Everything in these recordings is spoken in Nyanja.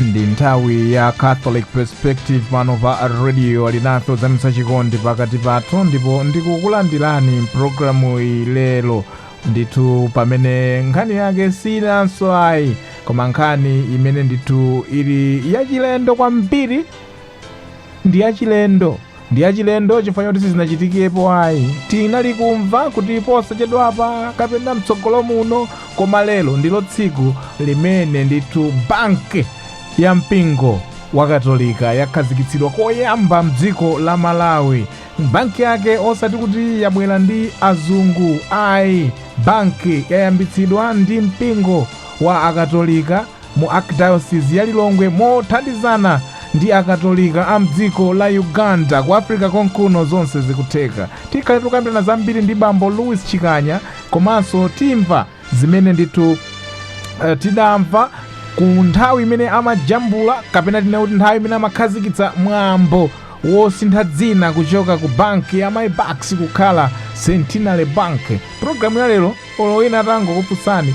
ndi nthawi ya catholic perspective pano pa radio alinafe kudzetsa chikondi pakati pathu ndipo ndikukulandirani mpulogalamu iyi lero ndithu pamene nkhani yake siinanso ayi koma nkhani imene ndithu ili yachilendo kwambiri Ndi yachilendo. Ndi yachilendo chifukwa choti sizinachitikepo ayi. Tinali kumva kuti posachedwapa kapena mtsogolo muno koma lero ndilo tsiku limene ndithu banki ya mpingo wa katolika yakhazikitsidwa koyamba mdziko la malawi banki yake osati kuti yabwera ndi azungu ayi banki yayambitsidwa ndi mpingo wa akatolika mu Archdiocese ya Lilongwe mothandizana ndi akatolika a mdziko la Uganda ku Africa konkuno zonse zikutheka. Tikhale tikukambirana zambiri ndi bambo Louis Chikanya komanso timva zimene ndithu eh, tidamva ku nthawi imene amajambula kapena tinene kuti nthawi imene amakhazikitsa mwambo wosintha dzina kuchoka ku banki ya MyBucks kukhala centenary bank programu ya lero olo wina atangokufunsani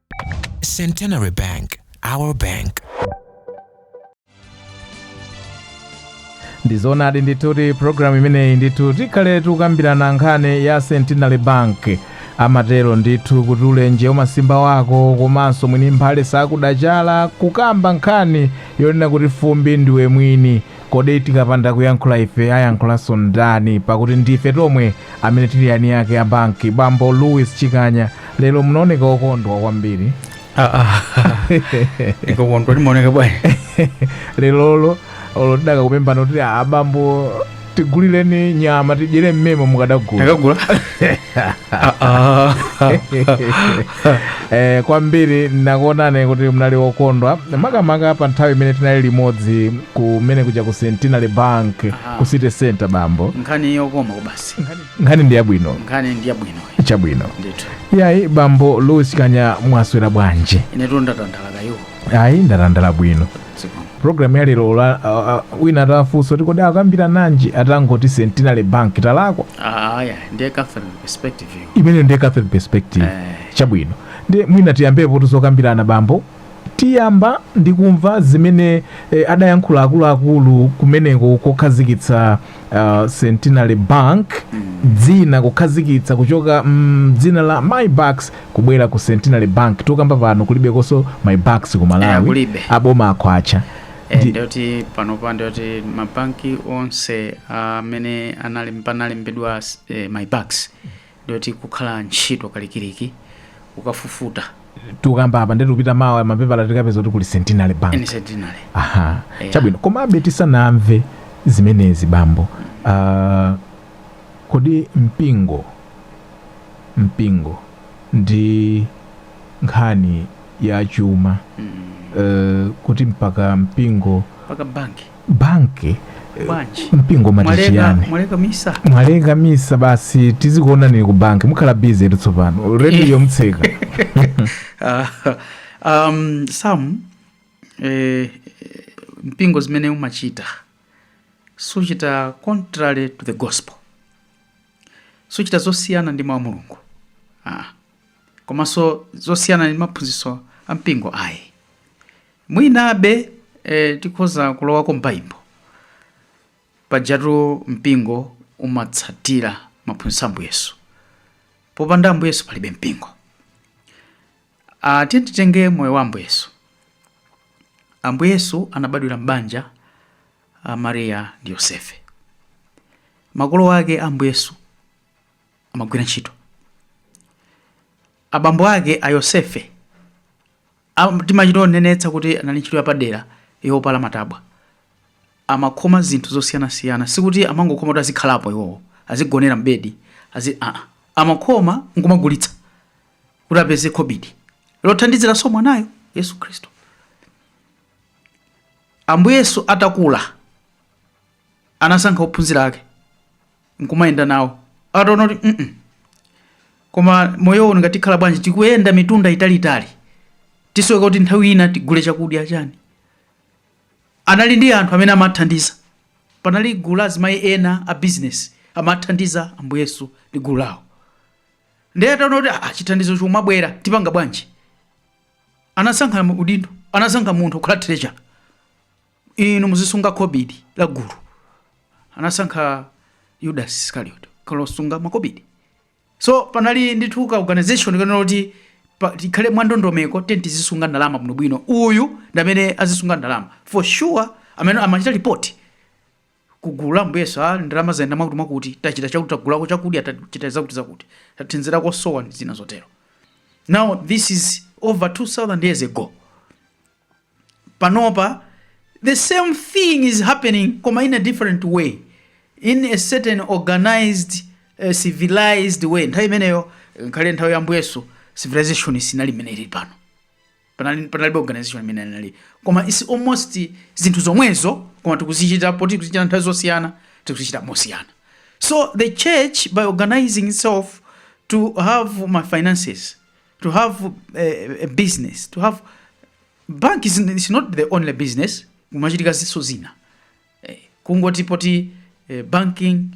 Centenary Bank, our bank. ndizonadi ndithu kuti programu imeneyi ndithu tikhale tikukambirana nkhani ya centenary bank amatero ndithu kuti ulenje umasimba wako komanso mwini mphale sakudachala kukamba nkhani yonena kuti fumbi ndiwe mwini Kodi tikapanda kuyankhula ife ayankhulanso ndani pakuti ndife tomwe amene tili eni ake a banki bambo louis chikanya lero munaoneka okondwa kwambiri ine kukondwa ndimaoneka bwanji lerolo olo tidaka kupembana kuti abambo tigulireni nyama tidyere mmemo mukadagula takagula eh, kwambiri nakuonani kuti mnali wokondwa makamaka pa nthawi imene tinali limodzi kumene kuja ku centenary bank ku city center bambo nkhani yokoma kubasi nkhani ndi yabwino nkhani ndi yabwino chabwino ndithu yayi bambo louis chikanya mwaswera bwanji inetu ndatandala kaya iwo ayi ndatandala bwino Program ya lero olo wina atafunsa kuti kodi akambirananji atangoti Centenary Bank talakwa Ah, yeah, ndiye Catholic perspective iyo. imene ndiye Catholic perspective Eh. chabwino ndiye mwina tiyambepo tidzakambirana bambo tiyamba ndi kumva zimene eh, adayankhula akuluakulu kumeneko kokhazikitsa uh, centenary bank dzina kukhazikitsa kuchoka mm, dzina la MyBucks kubwera ku centenary bank tokamba pano kulibekonso MyBucks ku Eh, malawi kulibe. aboma akhwacha Eh, Ndi- ndiyoti panopa ndiyoti mabanki onse amene anali panalembedwa eh, MyBucks ndiyoti kukhala ntchito kalikiliki kukafufuta tikukamba apa nde tikupita mawa mapepala tikapeza kuti kuli centenary bank ah centenary aha Yeah. chabwino komabe tisanamve zimenezi bambo uh, kodi mpingo mpingo ndi nkhani ya chuma mm. uh, kuti mpaka mpingo mpaka banki banki bwanji mpingo mati mwaleka chiyani mwaleka misa mwaleka misa basi tizikuonanira ku banki mukhala bizi etu tsopano rediyo mtseka Ah, um, sam eh, mpingo zimene umachita suchita contrary to the gospel suchita zosiyana ndi mawu a mulungu ah. komanso zosiyana ndi maphunzitso a mpingo ayi Mwinabe tikhoza kulowako m'Baibo. Pajatu mpingo umatsatila maphunzitso a Ambuye Yesu. Popanda Ambuye Yesu palibe mpingo. Ah, tiyeni titenge moyo wa Ambuye Yesu. Ambuye Yesu anabadwila m'banja la Mariya ndi Yosefe. Makolo ake a Ambuye Yesu amagwila nchito. Abambo ake a Yosefe a Timachita kunenetsa kuti anali ndi ntchito yapadera yopala matabwa. Amakhoma zinthu zosiyanasiyana. Sikuti amangokhoma kuti azikhalapo iwowo, azigonera m'bedi, azi aa. Amakhoma n'kumagulitsa kuti apeze khobidi lothandiziranso mwanayo, Yesu Khristu. Ambuye Yesu atakula, anasankha ophunzira ake. nkumayenda nawo ataona kuti mm -mm. koma moyo uno ngati tikhala bwanji tikuyenda mitunda italiitali tisowekera kuti nthawi ina tigule chakudya chani anali ndi anthu amene amathandiza panali gulu la azimayi ena a business amathandiza ambuye yesu ndi gulu lawo ndiye ataona kuti ah, chithandizo chikumabwera tipanga bwanji anasankha udindo anasankha munthu kukhala treasurer inu muzisunga khobidi la gulu anasankha yudasi iskariot kukhala osunga makobidi so panali ndithu ka organization konena kuti pa- tikhale mwandondomeko tiyeni tizisunga ndalama bwinobwino uyu ndi amene azisunga ndalama for sure amene amachita ripoti ku gulu la Ambuye Yesu a ndalama zayenda mwakuti mwakuti tachita chakuti tagulako chakudya tachita zakuti zakuti tathandiza osowa ndi zina zotero now this is over 2000 years ago panopa the same thing is happening koma in a different way in a certain organized uh, civilized way nthawi imeneyo nkhale nthawi ya Ambuye Yesu civilization sinali imeneyi pano panali panalibe organization imeneyi koma it's almost zinthu zomwezo koma tikuzichita poti tikuzichita nthawi zosiyana tikuzichita mosiyana so the church by organizing itself to have ma finances to have a, eh, a business to have bank is, is not the only business kumachitika zinthuso zina eh, kungoti poti eh, banking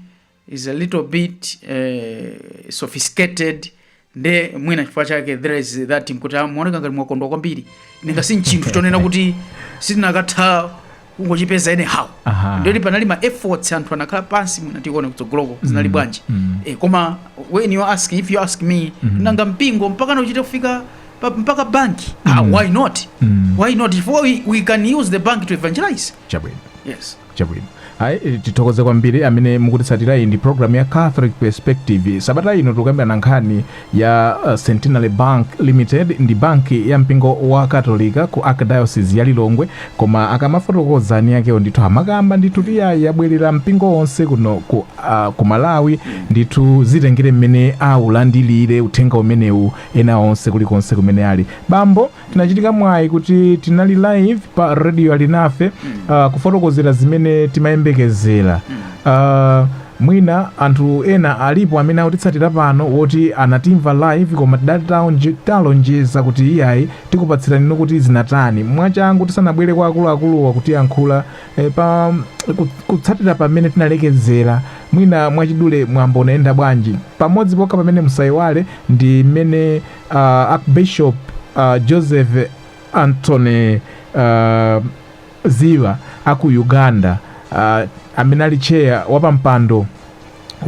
is a little bit eh, sophisticated nde mwina chifukwa chake there is that mkuti zimaoneka ah, ngati mwakondwa kwambiri ninga sinchinthu chonena kuti sitingathe kungochipeza anyhow Aha. ndiyoti panali ma efforts anthu anakhala pansi mwinatu kuona kutsogoloko zinali bwanji mm. eh, koma when you ask if you ask me nanga mpingo mpaka kuchita kufika pa- mpaka banki ah, why not Mm. why not if we, we can use the bank to evangelize chabwino yes chabwino ayi eh, tithokoze kwambiri amene mukutitsatira iyi ndi programu ya catholic perspective sabata ino tikukambirana nkhani ya Centenary Bank Limited ndi banki ya mpingo wa Katolika ku Archdiocese ya Lilongwe koma akamafotokoza eni akewo ndithu amakamba ndithu kuti iyayi yabwerera mpingo onse kuno ku, uh, ku Malawi ndithu zitengere mmene aulandilire uthenga umenewu ena onse kulikonse kumene ali bambo tinachita mwayi kuti tinali live pa radio alinafe uh, kufotokozera zimene timayembekezera uh, mwina anthu ena alipo amene akutitsatira pano woti anatimva live koma tidataonje- talonjeza kuti iyayi tikupatsirani inu kuti zinatani mwachangu tisanabwere kwa akuluakuluwa atiyankhula eh, pa ku- kutsatira pamene tinalekezera mwina mwachidule mwambo unayenda bwanji pamodzi pokha pamene musaiwale ndi mmene uh, Archbishop uh, Joseph Anthony uh, Ziva aku Uganda uh, amene ali chair wapampando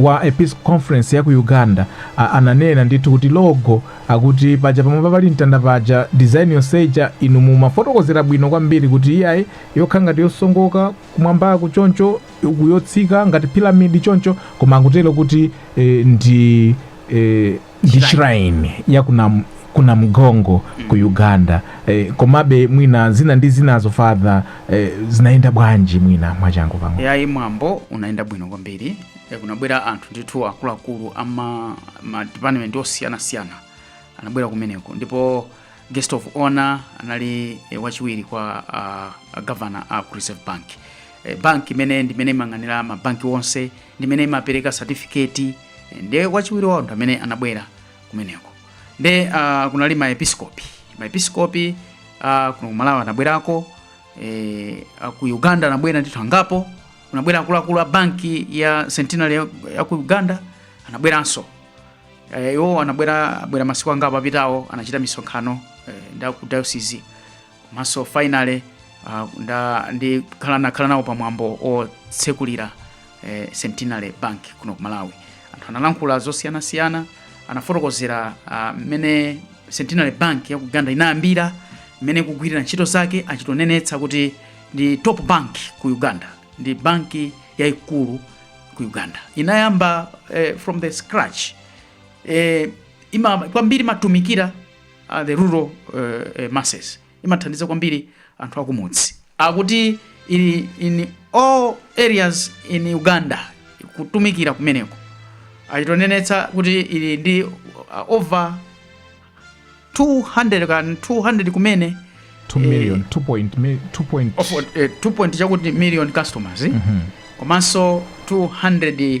wa episcopal conference ya ku uganda a, ananena ndithu kuti logo akuti paja pamwamba pali mtanda paja design yonse ija inu mumafotokozera bwino kwambiri kuti iyayi yokhala ngati yosongoka kumwambaku choncho uku yotsika ngati piramidi choncho koma akutitu kuti e, ndi e, ndi shrine ya ku Nam, ku Namugongo ku uganda eh, komabe mwina zina ndi zinazo father eh, zinayenda bwanji mwina mwachangu pang'ono yayi mwambo unayenda bwino kwambiri Eh, kunabwera anthu ndithu akuluakulu ama ma department osiyanasiyana anabwera kumeneko ndipo guest of honor anali eh, wachiwiri kwa uh, governor a ku reserve bank eh, bank imene ndimene imayang'anira mabanki onse ndi imene imapereka certificate nde wachiwiri wawo ndi amene anabwera kumeneko nde uh, kunali maepiskopi maepiskopi uh, kuno kumalawi anabwerako eh, ah, ku uganda anabwera ndithu angapo kunabwera akuluakulu a banki ya centenary ya, ya ku uganda anabweranso Eh, iwo anabwera abwera masiku angapo apitawo anachita misonkhano eh, ndi aku diocese komanso finally uh, nda ndikhala nakhala nawo pa mwambo otsekulira eh, centenary bank kuno ku malawi anthu analankhula zosiyanasiyana anafotokozera ah, mmene centenary bank ya ku uganda inayambira mmene ikugwirira ntchito zake achitonenetsa kuti ndi top bank ku uganda ndi banki yaikulu ku uganda inayamba eh, from the scratch eh, ima, kwambiri imatumikira uh, the rural uh, uh, masses imathandiza kwambiri anthu akumudzi akuti ili in all areas in uganda kutumikira kumeneko achitonenetsa kuti ili ndi uh, over 200 kan 200 kumene 2 million 2 point mi- 2 point of, uh, 2 point chakuti million customers mm -hmm. komanso 200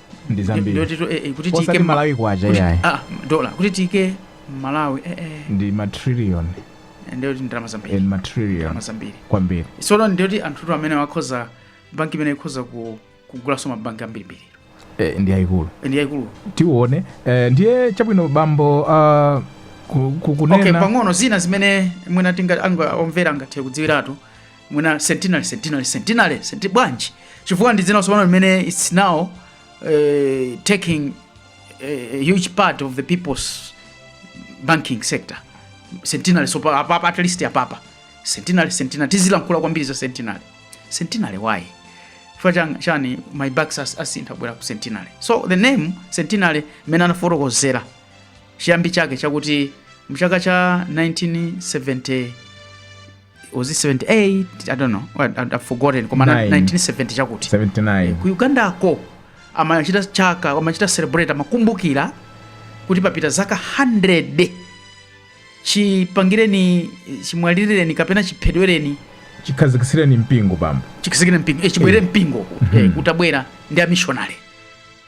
ndi zambiri ndotitu eh, eh, kuti osati tiike m'ma- malawi kwacha kuti- iyayi ah, dola kuti tiike m'malawi eh, eh, ndi matrillion ndiyoti ndalama zambiri ndi matrillion ndalama zambiri kwambiri sono ndiyoti anthutu amene akhoza banki imene ikhoza ku- kugulanso mabanki ambirimbiri eh, ndi ayikulu ndi yayikulu tione eh, ndiye chabwino bambo uh, ku, ku, okay kunena pang'ono zina zimene mwina tinga anga- omvera angathe kudziwiratu mwina centenary centenary centenary centi bwanji chifukwa ndi dzina tsopano limene its now eh, taking eh, a huge part of the people's banking sector centenary so pa- apapa at least apapa centenary centenary tizilankhula kwambiri za centenary centenary why chifukwa chan- chani mybucks as- asintha kubwera ku centenary so the name centenary mmene anafotokozera chiyambi chake chakuti mchaka cha 1970 was it 78 i don't know well, I- i've forgotten koma na- Nine. 1970 chakuti 79 ku ugandako amachita chaka amachita celebrate amakumbukira kuti papita zaka 100 chipangireni chimwalirireni kapena chiphedwereni chikhazikitsireni mpingo bambo chikhazikire mpingo eh, chibwerere mpingo eh, kutabwera ndi amishonale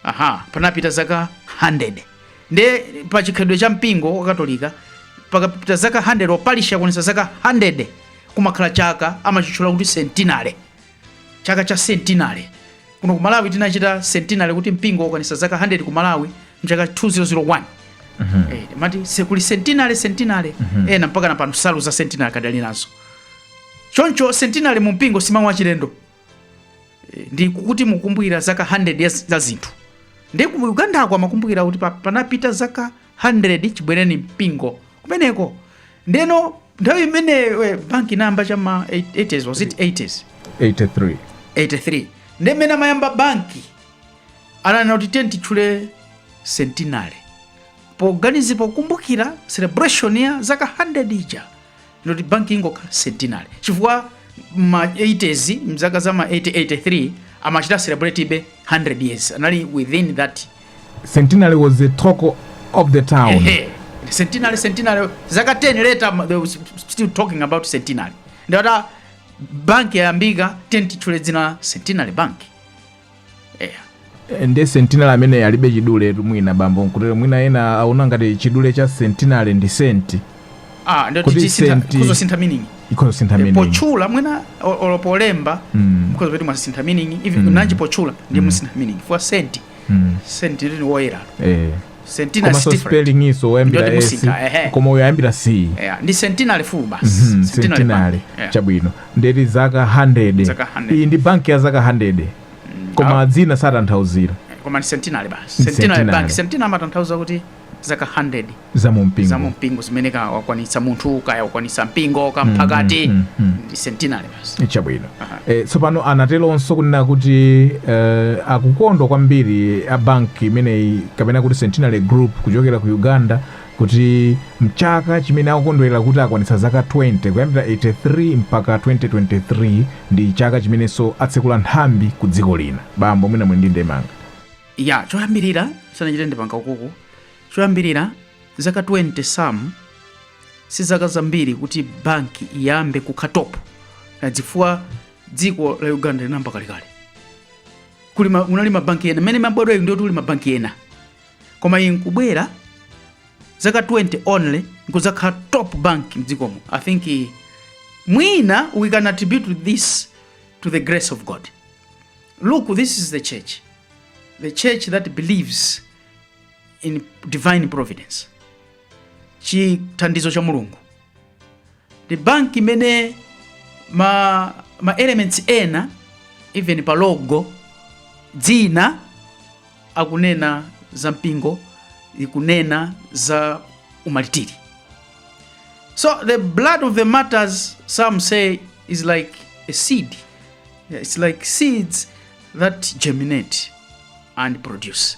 aha panapita zaka 100 nde pa chikhalidwe cha mpingo wakatolika pakapita zaka 100 olo parishi yakwanitsa zaka 100 kumakhala chaka amachitchula kuti centenary chaka cha centenary kuno ku malawi tinachita centenary kuti mpingo wakwanitsa zaka 100 ku malawi mchaka 2001 Eh, mati se- kuli centenary centenary ena mpaka na pano nsalu za centenary akadali nazo choncho centenary mu mpingo simawu achilendo Eh, ndi kuti mukukumbukira zaka 100 ya- za zinthu ndi ku uganda ko amakumbukira kuti pa- panapita zaka 100 chibwereni mpingo kumeneko ndeno nthawi imene eh, banki inayamba cha ma 80s was it 80s 83 83 ndi mmene amayamba banki ananena kuti tiye titchule centenary poganizi- pokumbukira celebration ya zaka 100 ija ndoti banki ingokhala centenary chifukwa ma 80s mzaka za ma 80 83 amachita celebratebe 100 years anali within that centenary was the talk of the town ehe centenary centenary zaka 10 later ma- they were still talking about centenary nde ati banki yayambika tiyeni titchule dzina la centenary bank Eh, ndi centenary amene alibe chiduletu mwina bambo nkutero mwina ena aona ngati chidule cha centenary ndi senti ah ndoti Kuti tisintha senti- ikhoza kusintha meaning ikhoza sintha meaning potchula mwina o- olo polemba Mm, mukhoza kupeza kuti mwasintha meaning even Mm. nanji potchula ndi Mm. musintha meaning for senti mm, senti ndi woyera eh, Centenary is komanso different. spelling iyonso oyambira Ndoti s musika, ehe. koma uyo ayambira c Yeah, ndi centenary full basi. Mhm, Centenary centenary bank. Yeah. chabwino ndeti zaka 100 Zaka 100. iyi ndi banki ya zaka 100 koma dzina satanthauzira Koma ndi centenary basi. Ndi Centenary centenary. bank. Centenary amatanthauza kuti zaka 100 za mu mpingo za mumpingo zimene kaya wakwanitsa munthu kaya wakwanitsa mpingo kaya mphakati mm, mm. ndi centenary chabwino e, tsopano anatelonso kunena kuti e, akukondwa kwambiri a banki imeneyi kapena kuti centenary group kuchokera ku uganda kuti mchaka chimene akukondwerera kuti akwanitsa zaka 20 kuyambira 83 mpaka 2023 ndi chaka chimenenso atsekula nthambi ku dziko lina bambo mwina muli ndi ndemanga ya choyambirira sanachite ndi mpanga ukuku choyambirira zaka 20 sam si zaka zambiri kuti banki iyambe kukhala top nayo chifukwa dziko la uganda linayamba kalekale kuli ma- kunali mabanki ena mmene imabwera iyi ndi kuti kuli mabanki ena koma iyi nkubwera zaka 20 only nkuzakhala top bank mdzikomo i think eh, mwina we can attribute this to the grace of god look this is the church the church that believes in divine providence chithandizo cha mulungu ndi banki imene ma, ma elements ena even pa logo dzina akunena za mpingo ikunena za umaritiri so the blood of the martyrs some say is like a seed Yeah, it's like seeds that germinate and produce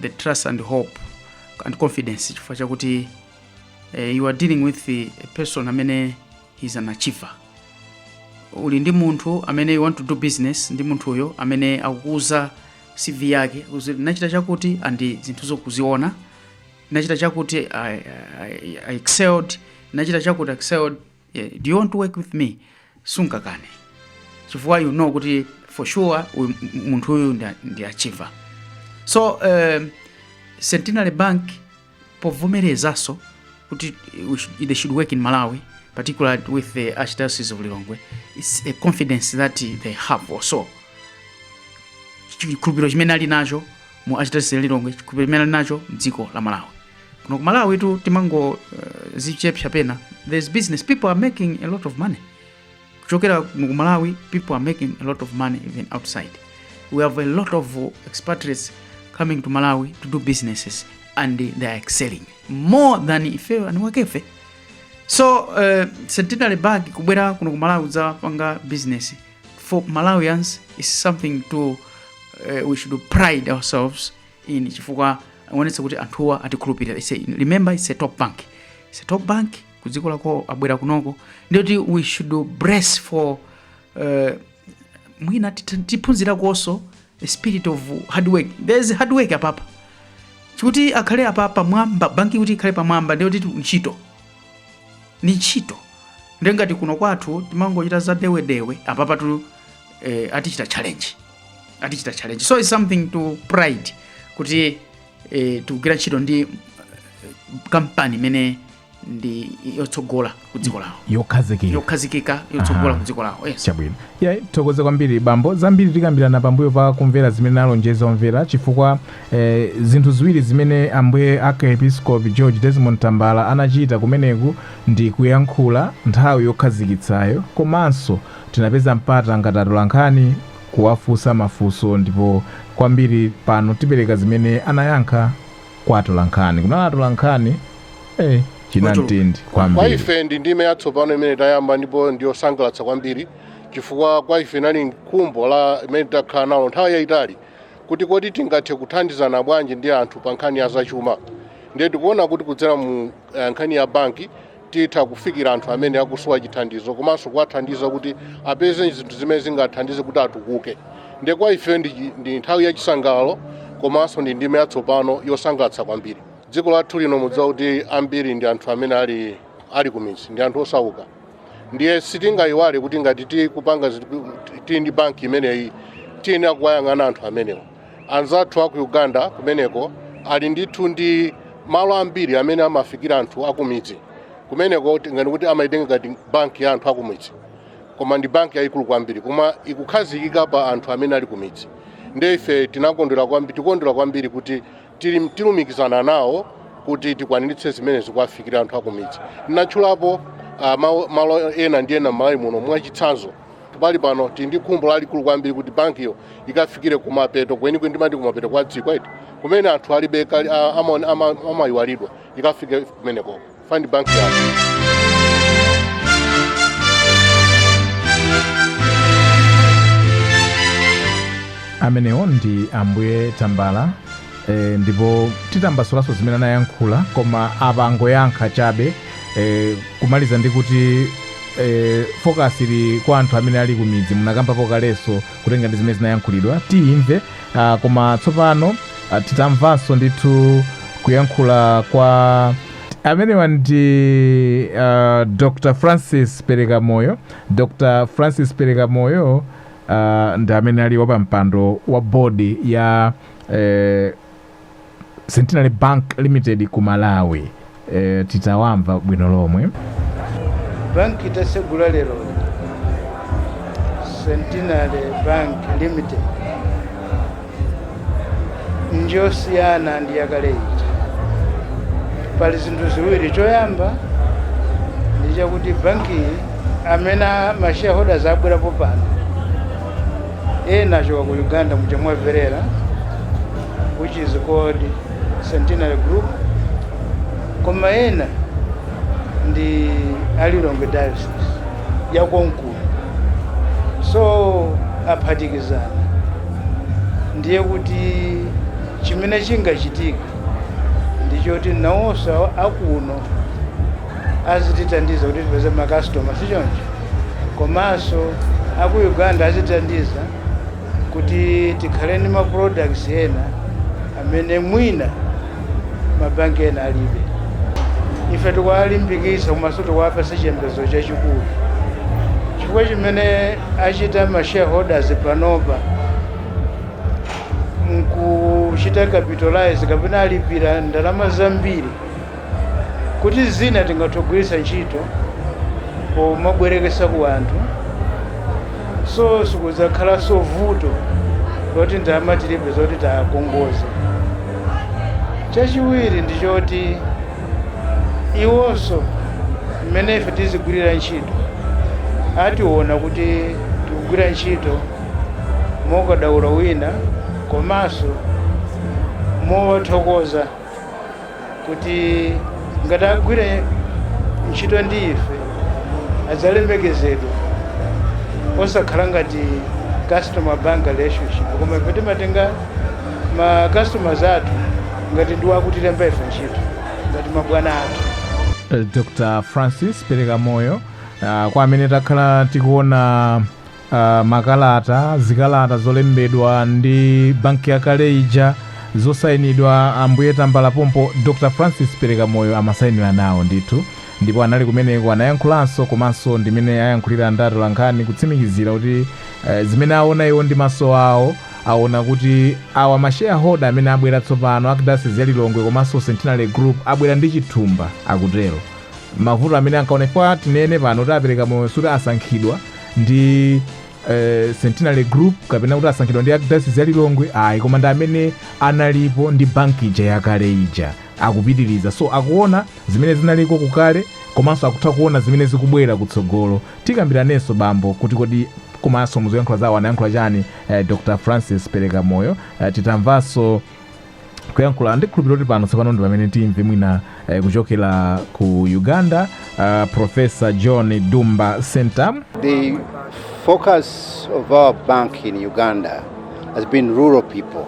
the trust and hope and confidence chifukwa chakuti eh, you are dealing with a person amene he's an achiever uli ndi munthu amene you want to do business ndi munthuyo amene akukuuza cv yake akukuuza, nachita chakuti andi zinthu zokuziona nachita chakuti I, I, I excelled nachita chakuti excelled Yeah, do you want to work with me? Sungakane. Chifukwa you know kuti for sure uyu- m- m- munthu uyu ndi- ndi achiever. So um, Centenary Bank povomerezanso kuti they should work in Malawi particularly with the Archdiocese of Lilongwe. It's a confidence that they have also. chikhulupiriro chimene ali nacho mu Archdiocese ya Lilongwe, chikhulupiriro chimene ali nacho mdziko la Malawi. kuno ku malawi tu timangozichepsa uh, pena there's business people are making a lot of money kuchokera kuno ku malawi people are making a lot of money even outside we have a lot of uh, expatriates coming to malawi to do businesses and they are excelling more than ifeyo aniwakefe so uh, centenary bag kubwera kuno ku malawi udzapanga business for malawians is something to uh, we should pride ourselves in chifukwa aonetsa kuti anthuwa atikhulupirira ise in. remember it's a top bank it's a top bank kudziko lawo abwera kunoko ndiyoti we should brace for uh, mwina tit- tiphunzirakonso a spirit of hard work there's hard work apapa chikuti akhale apa pamwamba banki kuti ikhale pamwamba ndiyoti tu- ntchito ni ntchito ndiye ngati kuno kwathu timangochita za dewedewe apapa tu eh, atichita challenge atichita challenge so it's something to pride kuti eh, tikugwira ntchito ndi eh, kampani imene ndi yotsogola ku dziko lawo yokhazikika yokhazikika yotsogola Aha. ku dziko lawo yes chabwino ya tithokoze kwambiri bambo zambiri tikambirana pambuyo pa kumvera zimene talonjeza omvera chifukwa eh, zinthu ziwiri zimene ambuye archiepiskopi george desmond tambala anachita kumeneku ndi kuyankhula nthawi yokhazikitsayo komanso Tinapeza mpata ngati atolankhani kuwafunsa mafunso ndipo kwambiri pano tipereka zimene anayankha kwa atolankhani. Kunali atolankhani eh chinamtindi kwambiri. Kwa ife ndi ndime yatsopano imene tayamba ndipo ndiyosangalatsa kwambiri chifukwa kwa ife inali khumbo limene takhala nalo nthawi yayitali kuti kodi tingathe kuthandizana bwanji ndi anthu pa nkhani ya zachuma ndiye tikuona kuti kudzera mu eh, nkhani ya banki titha kufikira anthu amene akusowa chithandizo komanso kuwathandiza kuti apeze zinthu zimene zingathandize kuti atukuke ndiye kwa ife ndi, chi- ndi nthawi yachisangalalo komanso ndi ndime yatsopano yosangalatsa kwambiri dziko lathu lino mudziwa kuti ambiri ndi anthu amene ali, ali kumidzi ndi anthu osauka ndiye sitingayiwale kuti ngati tikupanga zinthu- tili ndi banki imeneyi tiyenera kuwayang'ana anthu amenewo anzathu aku uganda kumeneko ali ndithu ndi malo ambiri amene amafikira anthu akumidzi kumeneko tinganene kuti amaitenga ngati banki ya anthu akumidzi koma ndi banki yayikulu kwambiri koma ikukhazikika pa anthu amene ali kumidzi nde ife tinakondwera kwambiri tikondwera kwambiri kuti tili- tilumikizana nawo kuti tikwaniritse zimenezi kuwafikira anthu akumidzi ndinatchulapo ah, mawu- malo ena ndi ena m'malawi muno mwachitsanzo Pali pano tili ndi khumbo lalikulu kwambiri kuti bankiyo ikafikire kumapeto kwenikweni, timati kumapeto kwa dziko eti, kumene anthu alibe kali- a- amaone- ama- amayiwalidwa, ikafike kumeneko ifeyo ndi banki yathu. amenewo ndi ambuye tambala e, ndipo tidzatambasulanso zimene anayankhula koma apa angoyankha chabe e, kumaliza ndi kuti e, focus ili kwa anthu amene ali kumidzi munakambapo kalenso kutenga ndi zimene zinayankhulidwa tiyimve ah, koma tsopano ah, tidzamvanso ndithu kuyankhula kwa amenewa ndi uh, dr francis perekamoyo dr francis perekamoyo uh, ndi amene ali wapampando wa bodi ya eh, centenary bank limited ku malawi eh, tidzawamva bwino lomwe banki tatsegula lero centenary bank limited njosiyana ndi yakale ija pali zinthu ziwiri choyamba ndi chakuti bankiyi amene mashareholders abwerapo pano ena achoka ku uganda muja mwamverera which is called centenary group koma ena ndi a lilongwe diocese yakonkuno so aphatikizana ndiye kuti chimene chingachitika ndichoti nawonso akuno azitithandiza kuti tipeze makasitoma si choncho komanso a ku uganda azitithandiza kuti tikhale ndi maproducts ena amene mwina mabanki ena alibe ife tikuwalimbikitsa komanso tikuwapatsa chiyembekezo chachikulu chifukwa chimene achita ma shareholders panopa nkuchita capitalize kapena alipira ndalama zambiri kuti zina tingathe kugwiritsa ntchito pomabwereketsa ku anthu so sikudzakhalanso vuto loti ndalama tilibe zoti tiwakongoze chachiwiri ndi choti iwonso mmene ife tizigwirira ntchito adzationa kuti tikugwira ntchito mokadaulo wina komanso mowathokoza kuti ngati agwire ntchito ndi ife adzalemekezedwa osakhala ngati customer bank relationship koma ife timatenga ma customers athu ngati ndi wakutilemba ife ntchito ngati mabwana athu dr francis Perekamoyo uh, kwa amene takhala tikuona Makalata, zikalata zolembedwa ndi banki yakale ija, zosainidwa, Ambuye Tambala pompo, Dr. Francis Perekamoyo amasainira nawo ndithu, ndipo anali kumeneko, anayankhulanso, komanso ndi amene ayankhulira ndi atolankhani kutsimikizira kuti zimene awona iwo ndi maso awo, awona kuti awa ma shareholder amene abwera tsopano, Archdiocese ya Lilongwe komanso Centenary Group, abwera ndi chithumba, akutero. Mavuto amene ankaona, chifukwa tinene pano kuti a Perekamoyo suti asankhidwa, ndi eh, centenary group kapena kuti asankhidwa ndi archdiocese ya lilongwe ayi koma ndi amene analipo ndi banki ija yakale ija akupitiriza so akuona zimene zinaliko kukale komanso akutha kuona zimene zikubwera kutsogolo tikambiranenso bambo kuti kodi komanso muzoyankhula zawo anayankhula chani eh, dr francis Perekamoyo eh, titamvanso kuyankhula ndikhulupirira kuti pano tsopano ndi pamene timve mwina eh, kuchokera ku uganda uh, profesa john Ddumba Ssentamu The focus of our bank in Uganda has been rural people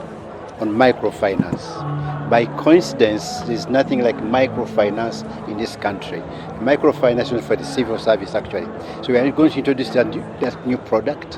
on microfinance. By coincidence, there's nothing like microfinance in this country. Microfinance is for the civil service, actually. So we are going to introduce that new, that new product.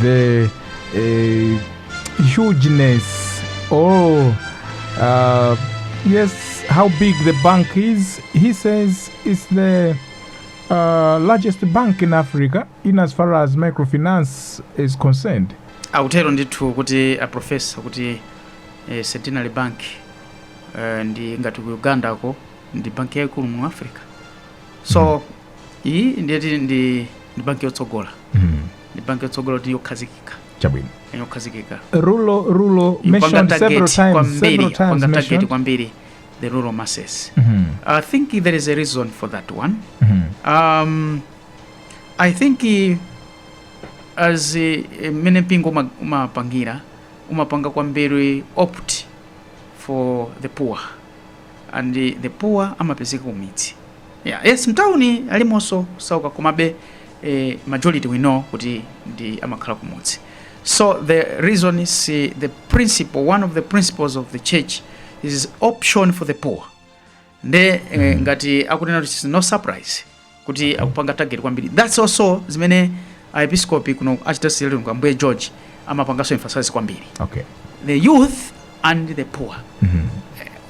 the uh, hugeness or uh, yes, how big the bank is. He says it's the uh, largest bank in Africa in as far as microfinance is concerned. akutero ndithu kuti a profesa kuti eh, centenary bank eh, ndi ngati ku ugandako ndi banki yaikulu mu africa so iyi ndiye kuti ndi banki yotsogola mm. ndi banki yotsogola kuti yokhazikika chabwino yani yokhazikika rural rural Ipanga mentioned several target times kwambiri several times ipanga target mentioned kwambiri the rural masses Mhm, i think there is a reason for that one mhm, um, i think eh, as eh, mmene mpingo uma- umapangira umapanga kwambiri opt for the poor and eh, the poor amapezeka kumidzi Yeah, yes, mtauni alimonso osauka komabe eh, majority we know kuti ndi amakhala kumudzi so the reason is eh, the principle one of the principles of the church is option for the poor nde eh, ngati akunena kuti it's no surprise kuti akupanga target kwambiri that's also zimene aepiskopi kuno archdiocese ya Lilongwe ambuye george amapanganso emphasize kwambiri okay the youth and the poor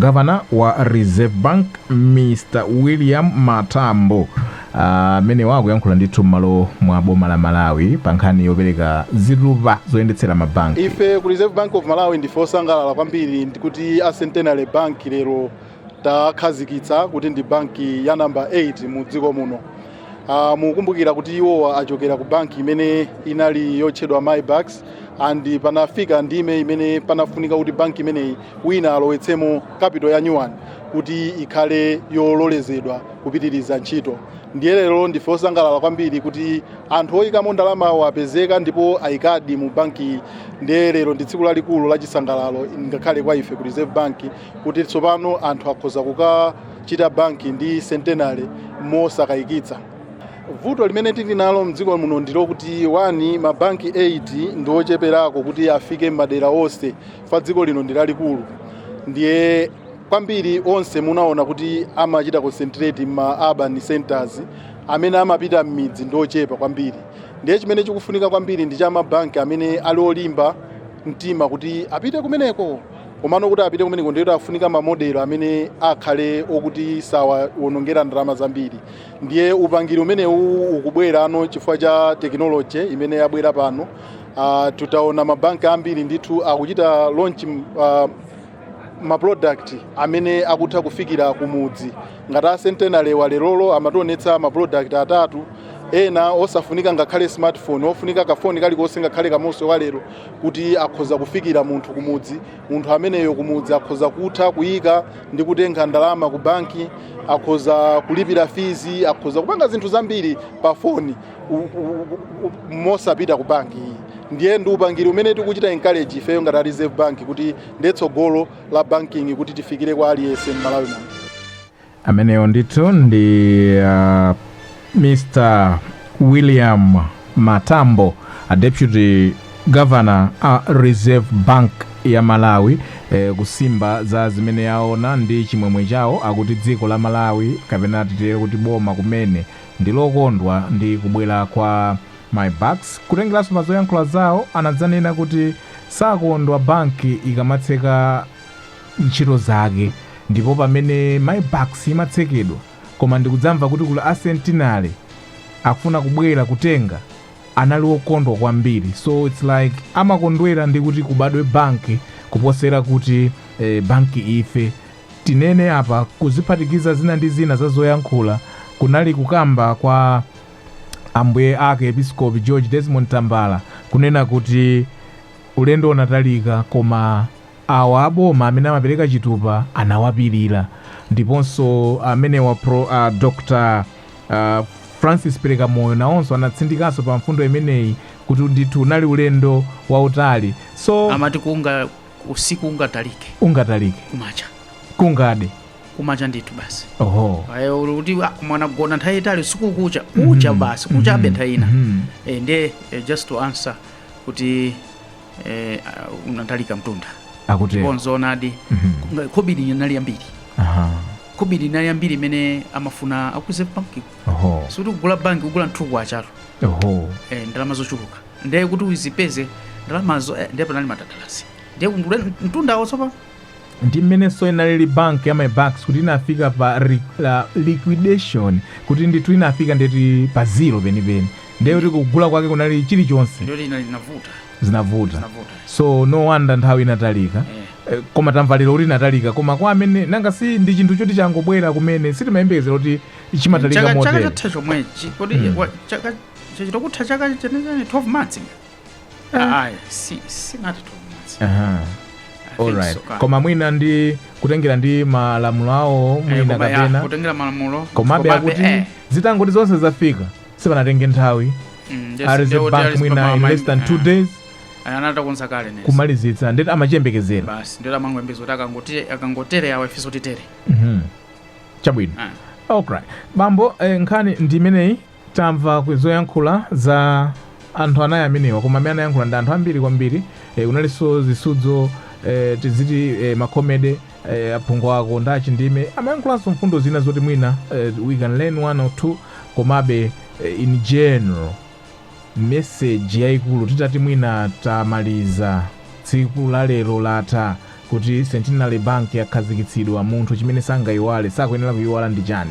Governor wa Reserve Bank Mr William Matambo amenewa uh, akuyankhula ndithu m'malo mwa boma la Malawi pa nkhani yopereka ziluba zoyendetsera mabanki. Ife ku Reserve Bank of Malawi ndife osangalala kwambiri kuti a Centenary Bank lero takhazikitsa kuti ndi banki ya namba 8 mu dziko muno. Uh, mukukumbukira kuti iwowa achokera ku banki imene inali yotchedwa MyBucks and panafika ndime imene panafunika kuti banki imeneyi wina alowetsemo capital ya nyuwani kuti ikhale yololezedwa kupitiriza ntchito ndiye lero ndife osangalala kwambiri kuti anthu oyikamo ndalama wo apezeka ndipo ayikadi mu banki ndiye lero ndi tsiku lalikulu la chisangalalo ngakhale kwa ife ku reserve bank kuti tsopano anthu akhoza kuka chita banki ndi centenary mosakayikitsa vuto limene tili nalo mdziko muno ndilokuti one mabanki 8 ndi ocheperako kuti afike madera onse chifukwa dziko lino ndi lalikulu ndiye kwambiri onse munaona kuti amachita concentrate m'ma urban centers amene amapita m'midzi ndi ochepa kwambiri ndiye chimene chikufunika kwambiri ndi cha mabanki amene ali olimba mtima kuti apite kumeneko komano kuti apite kumeneko ndiye kuti afunika mamodelo amene akhale okuti sawawonongera ndalama zambiri ndiye upangiri umenewu ukubwera pano chifukwa cha tekinoloji imene yabwera pano uh, tutaona mabanki ambiri ndithu akuchita launch uh, maproduct amene akutha kufikira kumudzi ngati a Centenary wa lerolo amationetsa maproduct atatu ena osafunika ngakhale smartphone ofunika kafoni kalikonse ngakhale kamose walero kuti akhoza kufikira munthu kumudzi munthu ameneyo kumudzi akhoza kutha kuyika ndi kutenga ndalama ku banki akhoza kulipira fees akhoza kupanga zinthu zambiri pa foni u- u- u- u- mosapita ku banki iyi ndiye ndi upangiri umene tikuchita encourage ifeyo ngati a reserve bank kuti ndiye tsogolo la banking kuti tifikire kwa aliyense m'malawi muno amenewo ndithu ndi uh, mr william matambo a deputy governor a reserve bank ya malawi eh, kusimba za zimene aona ndi chimwemwe chawo akuti dziko la malawi kapena titere kuti boma kumene ndi lokondwa ndi kubwera kwa MyBucks kutengeranso pa zoyankhula zawo anadzanena kuti sakondwa banki ikamatseka ntchito zake ndipo pamene MyBucks imatsekedwa koma ndikudzamva kuti kuli a Centenary akufuna kubwera kutenga anali okondwa kwambiri so it's like amakondwera ndi kuti kubadwe banki kuposera kuti eh, banki ife tinene apa kuti kuphatikiza zina ndi zina za zoyankhula kunali kukamba kwa ambuye ake episkopi george desmond tambala kunena kuti ulendo unatalika koma Awa aboma amene amapereka chitupa anawapirira ndiponso amenewa pro, a Dr Francis Perekamoyo nawonso anatsindikanso pa mfundo imeneyi kuti ndithu unali ulendo wautali so. Amati kunga usiku ungatalike. Ungatalike. Kumacha. Kungade. Kumacha ndithu basi. Oho. Ayo kuti mwana gona nthawi itali usiku kucha. Kucha mm-hmm. basi. Kucha mm-hmm. benthaina. Mm-hmm. E, nde, e, just to answer kuti eh, uh, unatalika mtunda akutero ndipo nzoonadi Mhm. khobidi linali yambiri Aha. khobidi linali yambiri imene amafuna akuze banki oho sikuti kugula banki kugula nkhuku achatu oho eh, ndalama zochuluka ndiye kuti uzipeze ndalamazo eh, ndiye panali matatalasi ndiye kundule mtundawo tsopano ndi mmenenso inalili bank ya my bucks kuti inafika pa ri- la- liquidation kuti ndithu inafika ndeti pa zero penipeni ndiye kuti kugula kwake kunali chilichonse ndiye zina zinavuta zinavuta zinavuta so no wonder nthawi inatalika eh Eh, koma tamva lero kuti inatalika koma kwa amene nanga si ndi chinthu choti changobwera kumene sitimayembekezera kuti chimatalika chaka chaka motere chatha chomwechi kodi Mm. wa- chaka chachita kutha chaka chenecheni 12 months koma mwina ndi kutengera ndi malamulo awo eh, mwina kapena komabe akuti eh. zitangoti zonse zafika sipanatenge nthawi Reserve bank mwina in less than two eh. days anatakonza kale nezi kumalizitsa ndeti amachiyembekezera basi ndeti amangoyembekeza kuti akangotere akangotere awa ifenso titere mm -hmm. chabwino ah. okay bambo eh, nkhani ndi imeneyi Tamva ku zoyankhula za anthu anayi amenewa koma amene anayankhula ndi anthu ambiri kwambiri eh, kunalinso zisudzo eh, tiziti eh, makomede eh, a Phungwako ndi a Chindime amayankhulanso mfundo zina zoti mwina eh, we can learn one or two komabe eh, in general message yayikulu titati mwina tamaliza tsiku la lero latha kuti centenary bank yakhazikitsidwa munthu chimene sangayiwale sakuyenera kuyiwala ndi chani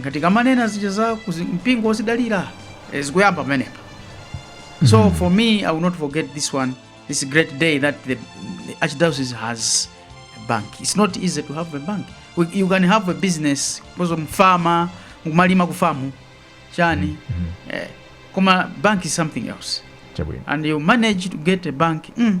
Nga tikamanena zija za kuzi- mpingo wozidalira eh, zikuyamba pamenepa so for me i will not forget this one this great day that the, the archdiocese has a bank it's not easy to have a bank We- you can have a business kozo mfama kumalima kufamu chani eh, koma bank is something else chabwino and you manage to get a bank mm,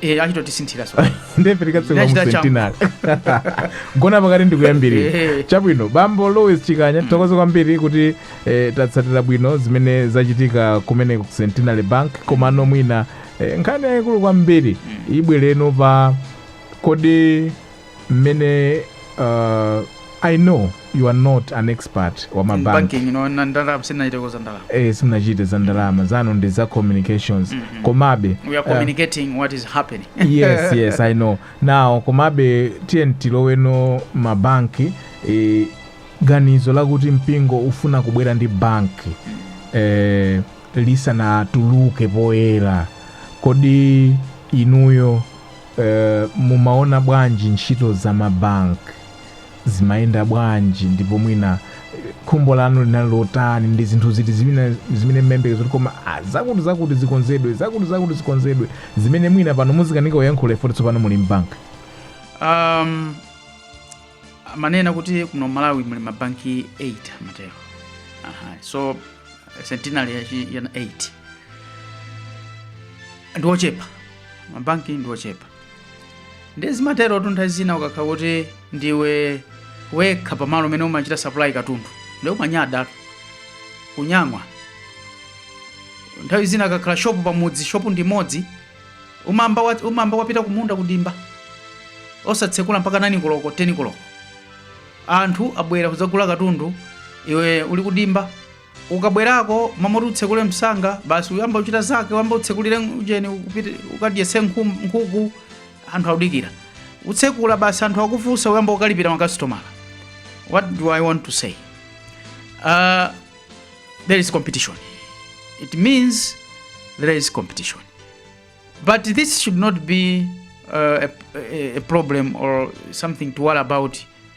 Eh, achita kutisinthira so. nde pitani mukatsegule mu Ndinachita changu. centenary gona pakati ndikuyambirira Eh. chabwino bambo Louis chikanya tithokoze kwambiri kuti eh, tatsatira bwino zimene zachitika kumene ku centenary bank komano mwina eh, nkhani yayikulu kwambiri ibwereno pa kodi mmene uh, i know you are not an expert wa mabank banking ndi ndalama sindinachiteko za ndalama eh, simunachite za ndalama zanu ndi za communications Mhm. komabe we are uh, communicating what is happening yes yes i know now komabe tiyeni tiloweno mabanki eh, ganizo lakuti mpingo ufuna kubwera ndi banki eh, lisanatuluke poyera kodi inuyo Eh, mumaona bwanji ntchito za mabank zimayenda bwanji ndipo mwina eh, khumbo lanu linali lotani ndi zinthu ziti zimene zimene mmayembekeza kuti koma ah, zakuti zakuti zikonzedwe zakuti zakuti zikonzedwe zimene mwina pano muzikanika kuyankhula poti tsopano muli mbank um, amanena kuti kuno malawi muli mabanki 8 amatero Aha, so centenary yachi- yana 8 ndiochepa mabanki ndi ochepa ndiye zimaterotu nthawi zina ukakhala kuti ndiwe wekha pamalo umene umachita supply katundu ndiye umanyada kunyang'wa nthawi zina kukakhala shopu pamudzi shopu ndi imodzi umamba wa- umamba wapita kumunda kudimba osatsekula mpaka 9 koloko 10 koloko anthu abwera kudzagula katundu iwe uli kudimba ukabwerako mmalo moti utsekule msanga basi uyamba uchita zake uyamba utsekulire ujeni upite ukadyese nkhum- nkhuku anthu akudikira utsekula basi anthu akufunsa uyamba ukalipira makasitomala what do i want to say uh, there is competition it means there is competition but this should not be uh, a, a, a problem or something to worry about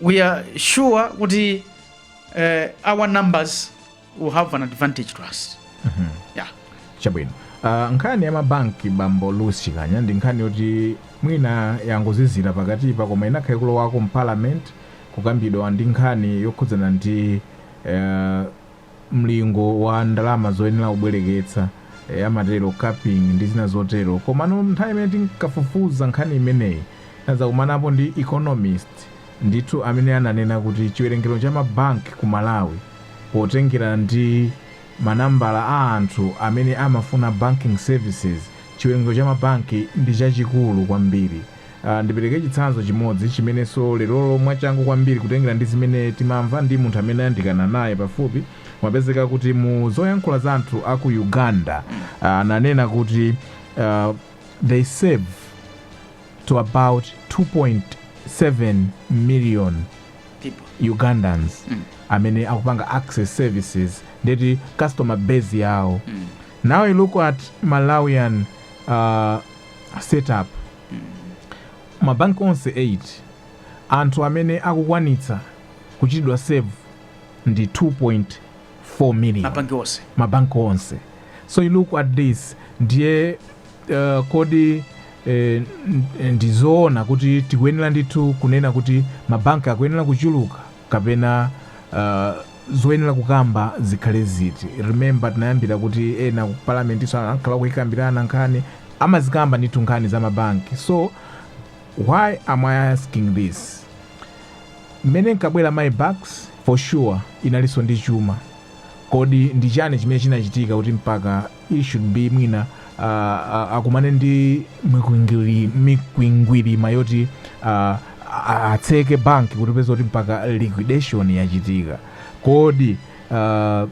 we are sure that uh, our numbers will have an advantage to us mm -hmm. yeah. chabwino uh, nkhani ya mabanki bambo lusi chikanya ndi nkhani yoti mwina yangozizira pakatipa koma inakhala ikulowako mparliament kukambidwa ndi nkhani yokhudzana ndi uh, mlingo wa ndalama zoyenera kubwereketsa, eh, amatero capping ndi zina zotero. Komano nthawi imene tinkafufuza nkhani imeneyi, tinadzakumanapo ndi economist ndithu amene ananena kuti chiwerengero cha mabanki ku Malawi potengera ndi manambala a anthu amene amafuna banking services, chiwerengero cha mabanki ndi chachikulu kwambiri. Ndipereke chitsanzo chimodzi chimenenso lerolo mwachangu kwambiri kutengera ndi zimene timamva ndi munthu amene ayandikana naye pafupi mwapezeka kuti mu zoyankhula za anthu a ku Uganda ananena kuti they serve to about 2.7 million People. Ugandans amene akupanga access services ndiye kuti customer base yawo now you look at Malawian uh, setup mm mabanki onse 8 anthu amene akukwanitsa kuchitidwa serve ndi 2.4 million mabanki onse ma bank onse so you look at this ndiye uh, kodi eh, ndizoona kuti tikuyenera ndithu kunena kuti mabanki akuyenera kuchuluka kapena uh, zoyenera kukamba zikhale ziti remember tinayambira kuti ena ku parliament so ankhala kuikambirana nkhani amazikamba ndithu nkhani za mabanki so why am i asking this mmene inkabwera my bucks for sure inalinso ndi chuma kodi ndi chani chimene chinachitika kuti mpaka it should be mwina uh, uh, akumane ndi mikwingwiri- mikwingwirima yoti uh, a- atseke banki kutipeza kuti mpaka liquidation yachitika kodi uh,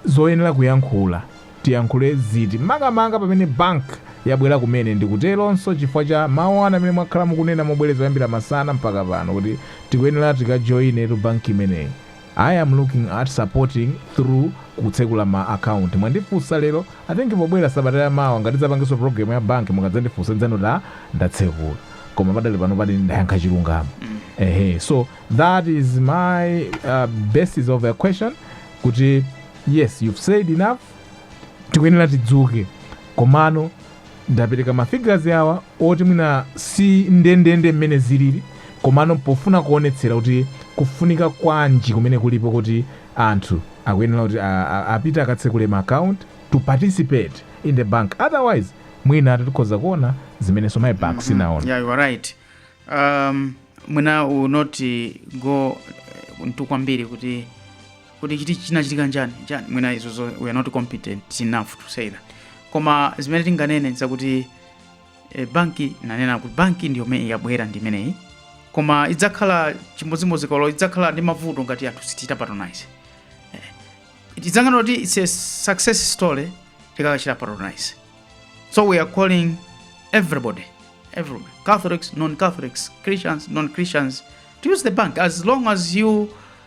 zoyenera kuyankhula tiyankhule ziti makamaka pamene bank yabwera kumene ndikuteronso chifukwa cha mawu ena amene mwakhala mukunena mobwereza kuyambira masana mpaka pano kuti tikuyenera tikajoinetu banki imeneyi I am looking at supporting through kutsekula ma account mwandifunsa lero I think pobwera sabata ya mawa ngati tidzapangenso program ya bank mukadzandifunsa ndzanena ndatsekula koma pakadali pano apa ndayankha chilungamo ehe so that is my uh, basis of a question kuti yes you've said enough tikuyenera tidzuke komano Ndapereka ma figures awa oti mwina si ndendende mmene zilili komano pofuna kuonetsera kuti kufunika kwanji kumene kulipo kuti anthu akuyenera kuti apite akatsekule ma account to participate in the bank otherwise mwinatu tikhoza kuona zimenenso my bucks inaona. Yeah, you are right. Um, mwina we will not go eh, into kwambiri kuti kuti chiti chinachitika nchani nchani mwina izo zo we are not competent enough to say that koma zimene tinganene zakuti e, banki nanena kuti banki ndiyo imene yabwera ndi imeneyi koma idzakhala chimodzimodzi kuti idzakhala ndi mavuto ngati anthu sitichita patronize eh, tidzangonena kuti it's a success story tikakachita patronize so we are calling everybody everyone catholics non-catholics christians non-christians to use the bank as long as you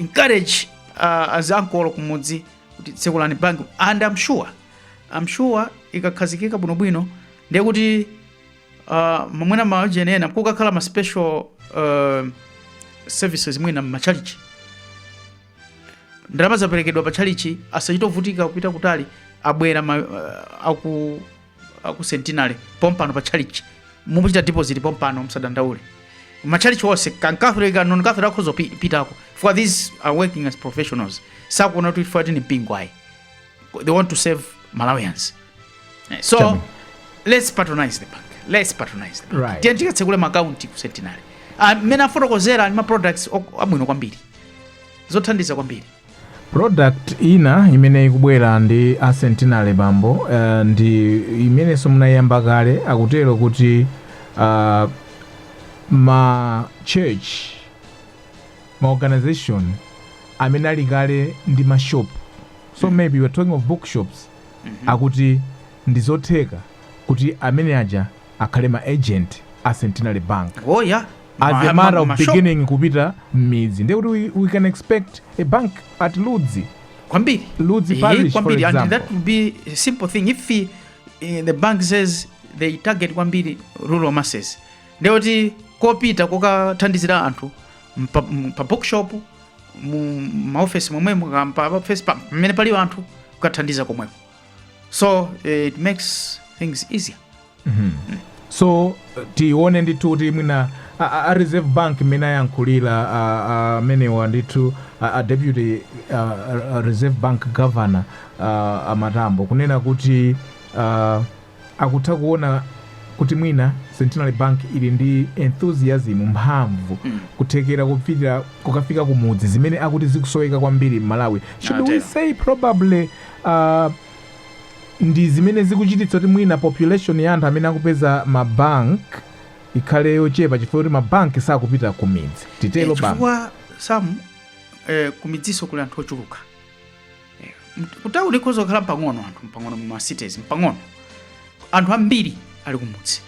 encourage uh, aziankolo kumudzi kuti tsekulani bank and I'm sure I'm sure ikakhazikika bwinobwino ndiye kuti uh, mwina maujeni ena kukakhala ma special uh, services mwina mmachalichi ndalama zaperekedwa pa chalichi asachite kuvutika kupita kutali abwera ma, uh, aku uh, ku centenary pompano pa chalichi mukuchita deposit pompano msadandaule machalichi onse Catholic and noncatholic akhoza pi- pitako for these are working as professionals sakuona kuti chifukwa ndi mpingo ayi they want to serve malawians Eh, so Tell me. let's patronize the bank let's patronize the bank Right. tiyeni tikatsekule maakaunti ku centenary Ah, mmene afotokozera ndi ma products ok- abwino kwambiri zothandiza kwambiri Product ina imene ikubwera ndi a Centenary pompano uh, ndi imenenso anayiyamba kale akutero kuti uh, ma church ma organization amene ali kale ndi ma shop so maybe you are talking of bookshops akuti ndizotheka kuti amene aja akhale ma agent a centenary bank oh yeah as Ma- a matter ma- of ma- shop. beginning kupita mmidzi ndiye kuti we, we can expect a bank at ludzi kwambiri Ludzi Eh, Parish, for kwambiri and example. that would be a simple thing if eh, the bank says they target kwambiri rural masses ndekuti kupita kukathandizira anthu mpa, m- pa bookshop mu maofesi momwemo ka- pa ofesi pa- pamene pali anthu kukathandiza komweko so eh, it makes things easier so tione ndithu kuti mwina a- a a reserve bank mmene ayankhulira a- a- amenewa ndithu a a deputy a- a- a reserve bank governor a- a Matambo kunena kuti a, akutha kuona kuti mwina Centenary Bank ili ndi enthusiasm, mphamvu, kuthekera kopitira kukafika ku mudzi zimene akuti zikusoweka kwambiri m'Malawi. Should we say probably uh, ndi zimene zikuchititsa kuti mwina population ya anthu amene akupeza ma bank ikhale yochepa chifukwa kuti ma bank sakupita kumidzi. Titero Eh, bank. chifukwa Sam eh, kumidziso kuli anthu ochuluka Eh, mt- kutauni ikhoza kukhala mpang'ono anthu mpang'ono muma cities mpang'ono anthu ambiri ali kumudzi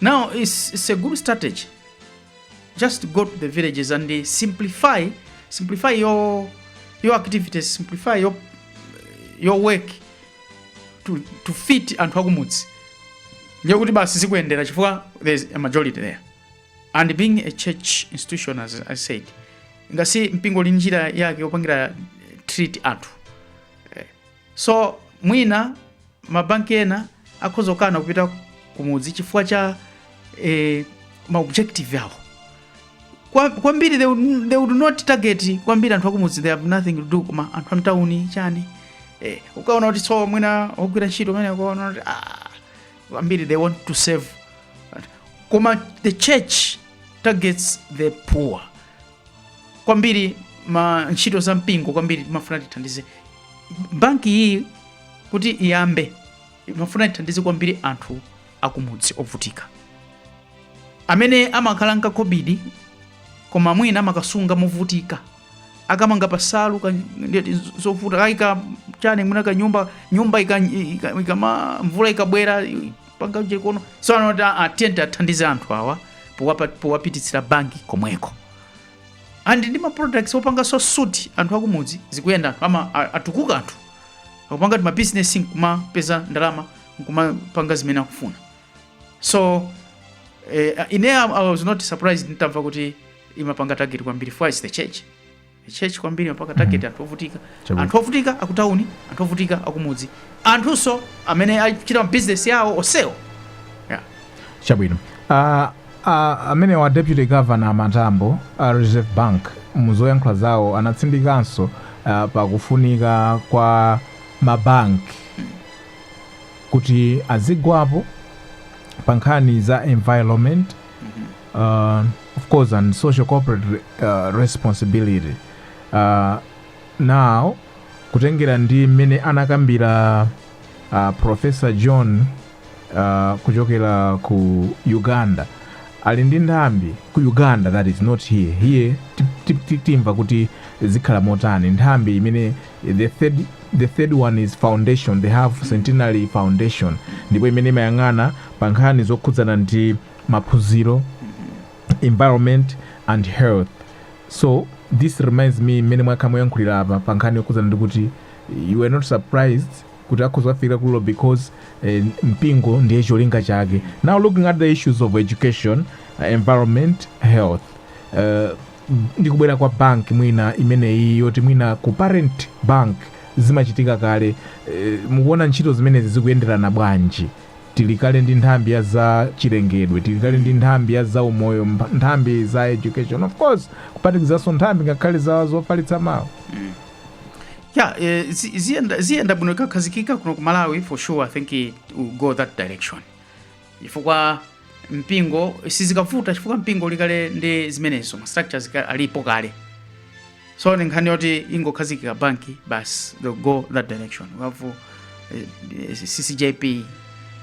now it's, it's a good strategy just go to the villages and eh, simplify simplify your your activities simplify your your work to, to fit anthu akumudzi ndiye kuti basi zikuyendera chifukwa there's a majority there and being a church institution as i said ngati mpingo uli njira yake yopangira eh, treat anthu Eh, so mwina mabanki ena akhoza kukana kupita kumudzi chifukwa cha eh, ma objective awo Kwa- kwambiri they would, they would not target kwambiri anthu akumudzi they have nothing to do koma anthu amtauni chani eh, ukaona kuti so mwina ogwira ntchito mmene ukaona kuti ah, kwambiri they want to serve koma the church targets the poor kwambiri mma ntchito za mpingo kwambiri timafuna tithandize banki iyi kuti iyambe imafuna tithandize kwambiri anthu akumudzi ovutika amene amakhala nkakobidi koma mwina amakasunga movutika akamanga pasalu ka- ndeti zovuta kaika chani mwina kanyumba nyumba ika- ika- ikama mvula ikabwera i- panga chakuno so anoti atiyende athandize anthu awa powapa- powapititsira banki komweko and ndi ma products opanganso suit anthu akumudzi zikuyenda anthu ama a- atukuka anthu akupanga ti ma business nkumapeza ndalama nkumapanga zimene akufuna so eh, ine I was not surprised nitamva kuti imapanga target kwambiri for is the church the church kwambiri imapanga target mm -hmm. anthu ovutika Chabwino. anthu ovutika akutauni anthu ovutika akumudzi anthunso amene achita mabusiness yawo osewo yeah. chabwino uh, ah, uh, ah, amene wa deputy governor matambo uh, ah, reserve bank muzoyankhula zawo anatsindikanso uh, pakufunika kwa mabanki kuti azigwapo pa nkhani za environment uh, of course and social corporate re- uh, responsibility uh, now kutengera ndi mmene anakambira uh, professor john uh, kuchokera ku uganda ali ndi nthambi ku uganda that is not here here ti- ti- ti- timva kuti zikhala motani nthambi imene the third, the third one is foundation they have centenary foundation ndipo imene imayang'ana pa nkhani zokhudzana ndi maphunziro environment and health so this reminds me mmene mwakhala mukuyankhulira apa pa nkhani yokhuzana ndi kuti you were not surprised kuti akhoza kukafikira kulo because eh, mpingo ndiye cholinga chake now looking at the issues of education uh, environment health uh, ndikubwera kwa bank ngati imeneyi yoti mwina ku parent bank zimachitika kale eh, mukuona ntchito zimenezi zikuyenderana bwanji Tili kale ndi nthambi ya za chilengedwe, tili kale ndi nthambi ya za umoyo, mpa- nthambi za education, of course, kuphatikizaso nthambi ngakhale za zofalitsa mawu. ya eh, zi- ziyenda ziyenda bwino ikakhazikika kuno ku malawi for sure i think it will go that direction chifukwa mpingo sizikavuta chifukwa mpingo uli kale ndi zimenezo ma structures ka- alipo kale so ndi nkhani yoti ingokhazikika banki basi they'll go that direction we have uh, ccjp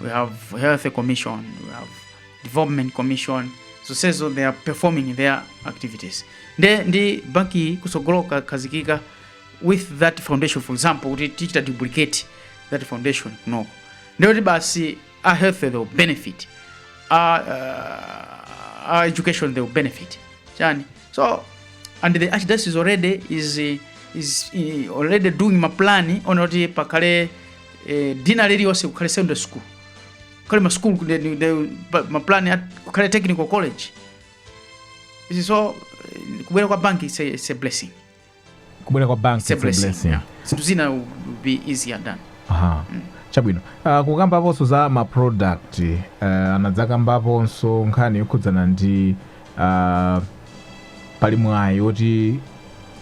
we have health commission we have development commission zonsezo they are performing their activities nde ndi banki iyi kutsogolo ikakhazikika with that foundation for example kuti tichite duplicate that foundation kunoko ndekuti basi our health they will benefit our, uh, our education they will benefit chani so and the archdiocese already is eh, is eh, already doing maplan ona kuti pakhale eh, dina liliyonse kukhale secondary school kukhale ma school ku- the- the- pa- maplan a- kukhale technical college izi so eh, kubwera kwa banki it's a, it's a blessing kubwera kwa bank it's a it's a blessing blessing. yeah. zinthu zina will be easier done Aha. chabwino uh, kukambaponso za ma product uh, anadzakambaponso nkhani yokhudzana ndi uh, pali mwayi woti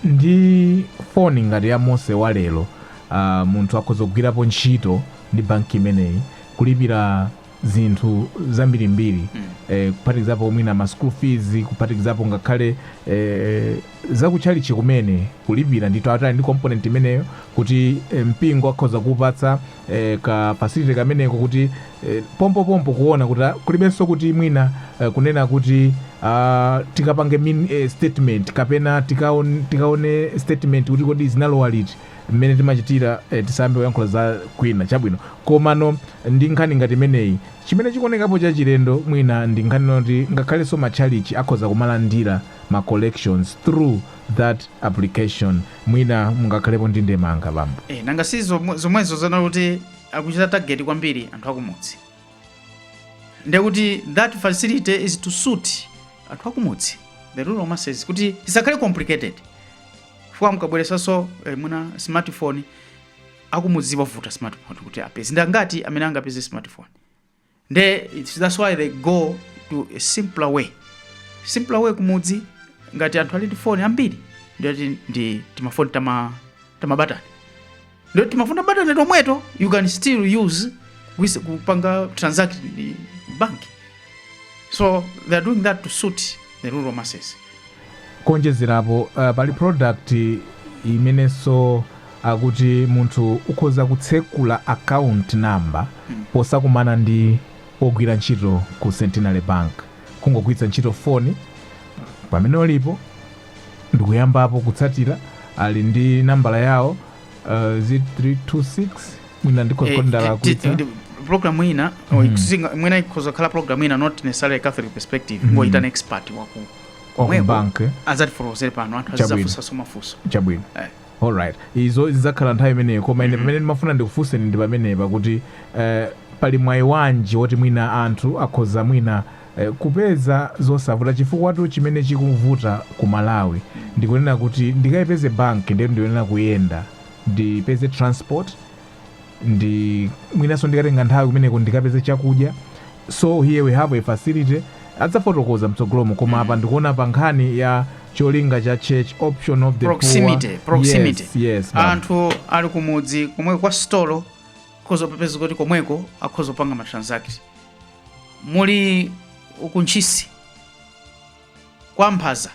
ndi foni ngati ya mose wa lero uh, munthu akhoza kugwirapo ntchito ndi banki imeneyi kulipira zinthu zambirimbiri eh, kuphatikizapo mwina ma school fees kuphatikizapo ngakhale eh, za kutchalitchi kumene kulipira ndithu atati ali ndi component imeneyo kuti eh, mpingo akhoza kupatsa eh, ka facility kameneko kuti eh, pompopompo kuona kuti ah, kulibenso kuti mwina eh, kunena kuti ah, tikapange min, eh, statement kapena tikaone, tikaone statement kuti kodi zinalowa liti mmene timachitira eh, tisayambe kuyankhula za kwina chabwino komano ndi nkhani ngati imeneyi chimene chikuonekapo cha chilendo mwina ndi nkhani yoti ngakhalenso matchalichi akhoza kumalandira ma collections through that application mwina mungakhalepo ndi ndemanga bambo Eh, nanga si zomwe- zomwezo zonena kuti akuchita target kwambiri anthu akumudzi ndekuti that facility is to suit anthu akumudzi the rural masses kuti isakhale complicated chifukwa mukabweretsanso eh, mwina smartphone akumudzi wavuta smartphone kuti apeze ndi angati amene angapeze smartphone nde it's- that's why they go to a simpler way simpler way kumudzi ngati anthu ali ndi foni ambiri ndi ati ndi timafoni tama tamabatani Nde timafoni ta batani tomweto you can still use with kupanga transact ndi bank. So they are doing that to suit the rural masses. Kuonjezerapo uh, pali product imenenso akuti munthu ukhoza kutsekula account number hmm. posakumana ndi ogwira ntchito ku Centenary Bank kungogwiritsa ntchito foni pamene ulipo ndikuyambapo kutsatira ali ndi nambala yawo uh, zi 326 mwina ndikhoza kuyitsa program ina or Mhm. singa- mwina ikhoza kukhala program ina not necessarily catholic perspective Mhm. kungoyitana an expert waku komweko bank azatifotokozere pano anthu Chabwino. azizafunsaso mafunso chabwino Eh. alright izo zidzakhala nthawi imeneyo koma ine Mhm. pamene ndimafuna ndikufunseni ndi pamenepa kuti eh, pali mwayi wanji woti mwina anthu akhoza mwina kupeza zosavuta chifukwatu chimene chikuvuta ku Malawi ndikunena kuti ndikayipeze bank ndiyetu ndikuyenera kuyenda ndipeze transport ndiye mwinanso ndikatenga nthawi kumeneko ndikapeze chakudya so here we have a facility adzafotokoza mtsogolomo koma apa ndikuona pa nkhani ya cholinga cha church option of the proximity poor. proximity yes, yes, ma'am. anthu ali kumudzi komweko kwa sitolo akhoza kupeza kuti komweko akhoza kupanga ma transaction Muli ku Ntchisi kwa Mphaza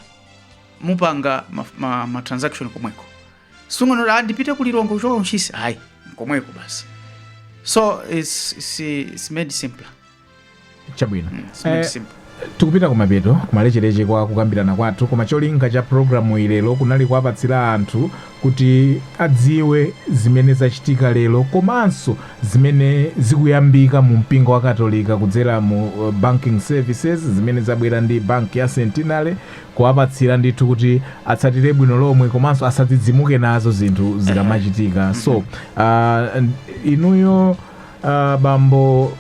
mupanga ma, ma, ma transaction komweko. Osanena kuti ndipite ku Lilongwe kuchoka ku Ntchisi. Ayi, komweko basi. So it's, it's, it's made simpler. chabwino It's made Eh, simpler. tikupita kumapeto kumalecheleche kwa kukambirana kwathu koma cholinga cha programuyi lero kunali kuwapatsira anthu kuti adziwe zimene zachitika lero komanso zimene zikuyambika mu mpingo wa katolika kudzera mu banking services zimene zabwera ndi bank ya centenary kuwapatsira ndithu kuti atsatire bwino lomwe komanso asadzidzimuke nazo zinthu zikamachitika so uh, inuyo uh, bambo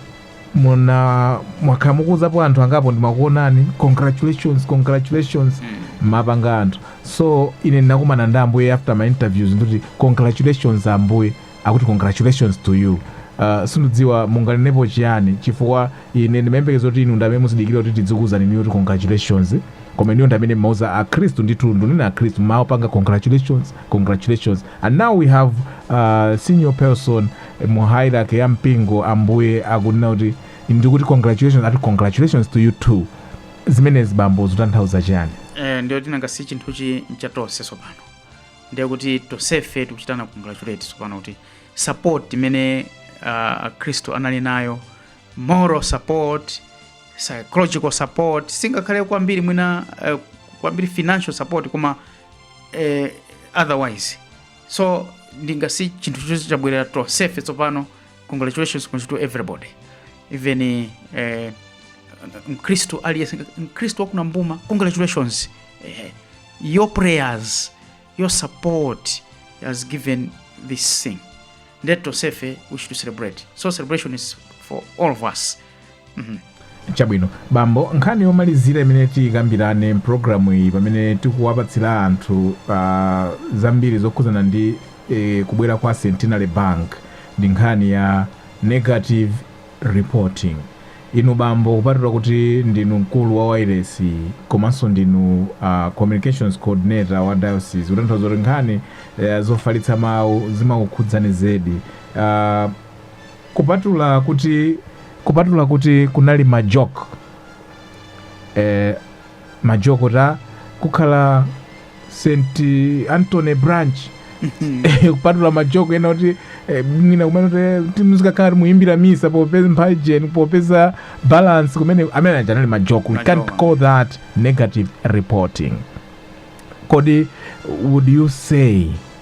muna mwakhala mukuuzapo anthu angapo ndimakuonani congratulations congratulations mm. mumapanga anthu so ine ndinakumana ndi ambuye after my interviews ndikuti congratulations ambuye akuti congratulations to you Uh, sindidziwa munganenepo chiyani chifukwa ine ndimayembekeza kuti inu ndamene muzidikira kuti tizikuuzani inuyo kuti congratulations koma inuyo ndamene mmauza akhristu ndithu ndunena akhristu mumawapanga congratulations congratulations and now we have uh, senior person mu hierarchy ya mpingo ambuye akunena kuti ndikuti congratulations ati congratulations to you too zimenezi bambo zikutanthauza chiyani eh, ndiye kuti nanga si chinthuchi ncha tonse tsopano ndiye kuti tonsefe tikuchitana congratulate tsopano kuti support imene uh, akhristu anali nayo moral support psychological support singakhale kwambiri mwina uh, kwambiri financial support koma uh, otherwise so nanga si chinthu chonse chabwerera tonsefe tsopano congratulations kunji to everybody even eh, mkristu aliyense mkristu wa ku Nambuma congratulations eh, your prayers your support has given this thing ndiye kuti tonsefe we should celebrate so celebration is for all of us chabwino bambo nkhani yomalizira imene tikambirane mpulogalamuyi pamene tikuwapatsira anthu zambiri zokhudzana ndi e, kubwera kwa centenary bank ndi nkhani ya negative reporting inu bambo kupatula kuti ndinu mkulu wa wairesi komanso ndinu uh, communications coordinator wa diocese kutanthauza kuti nkhani uh, zofalitsa mawu zimakukhudzani zedi uh, Kupatula kuti kupatula kuti kunali ma joke eh, ma joke ati kukhala St Anthony branch Eh, kupatula ma joke ena kuti eh, mwina kumene kuti muzikakhala kuti mukuyimbira misa popeza mphajen popeza balance kumene amene aja anali ma joke we Ma can't joke. call that negative reporting kodi would you say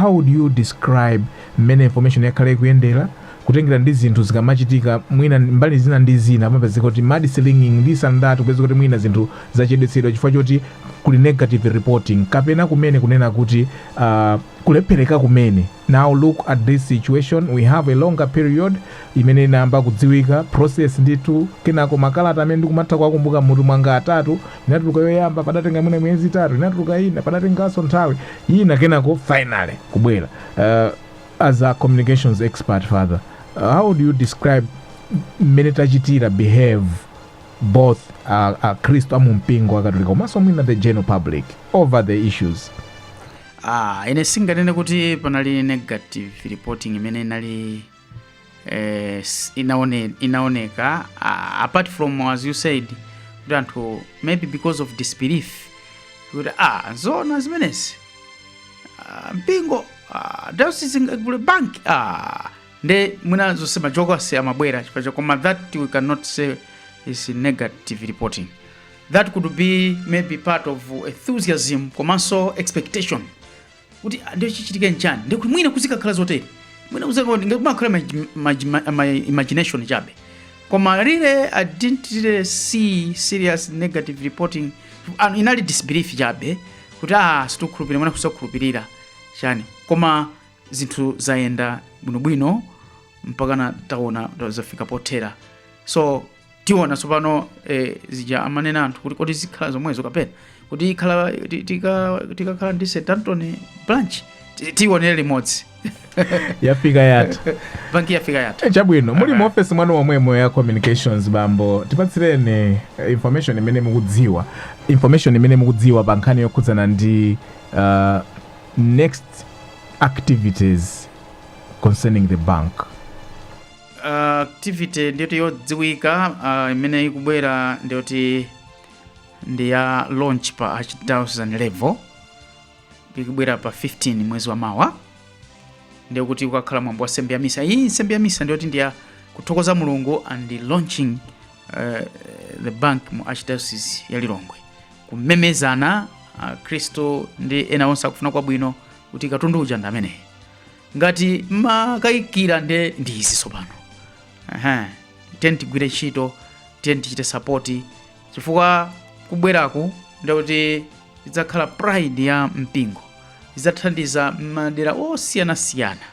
How would you describe mmene information yakhala ikuyendera kutengera ndi zinthu zikamachitika mwina mbali zina ndi zina pamapezeka kuti mudslinging this and that kupezeka kuti mwina zinthu zachedwetsedwa chifukwa choti kuli negative reporting kapena kumene kunena kuti uh, kulephereka kumene now look at this situation we have a longer period imene inayamba kudziwika process ndithu kenako makalata amene ndikumatha kuwakumbuka mmutu mwanga atatu inatuluka yoyamba padatenga mwina miyezi itatu inatuluka ina padatenganso nthawi ina kenako finally kubwera uh, as a communications expert father uh, how would you describe mmene tachitira behave both uh, akhristu a mumpingo wakatolika komanso mwina the general public over the issues ah, ine singanene kuti panali negative reporting imene inali eh, s- inaone- inaoneka uh, apart from as you said kuti anthu maybe because of disbelief kuti ah zona zimenezi ah, mpingo ah, dayosisi ingagule bank ah, nde mwina zonse majokasi amabwera chifukwa cha- koma that we cannot say is negative reporting that could be maybe part of enthusiasm komanso expectation kuti ah, ndiye chichitike nchani ndiye kuti mwina kuzikakhala zoteri mwina kuzikakhala ndiye kumakhala ma, ma, ma, ma imagination chabe koma really i didn't really see serious negative reporting Anu, inali disbelief chabe kuti ah sitikukhulupirira mwina kusakhulupirira chani koma zinthu zayenda bwinobwino mpakana taona zafika pothera so tiona tsopano eh, zija amanena anthu kuti kodi zikhala zomwezo kapena kuti ikhala ti- tika- tikakhala ndi st anthony branch tiyionere limodzi yafika yathu banki yafika yathu Eh, chabwino muli mu ofesi mwanu momwemo ya communications bambo tipatsireni eh, information imene mukudziwa information imene mukudziwa pa nkhani yokhudzana ndi uh, next activities concerning the bank uh, activity ndiyoti yodziwika uh, imene ikubwera ndiyoti ndi ya launch pa archdiocese level ikubwera pa 15 mwezi wa mawa ndiye kuti kukakhala mwambo wa nsembe ya misa iyi nsembe ya misa ndiyoti ndiya kuthokoza mulungu and launching uh, the bank mu archdiocese ya lilongwe kumemezanso akhristu ndi ena onse akufuna kwabwino kuti katundu uja ndi ameneyi Ngati mmakayikira ndiye ndi izi tsopano. Ehe, tiyeni tigwire ntchito, tiyeni tichite sapoti chifukwa kubweraku nde kuti idzakhala pride ya mpingo, idzathandiza madera osiyanasiyana,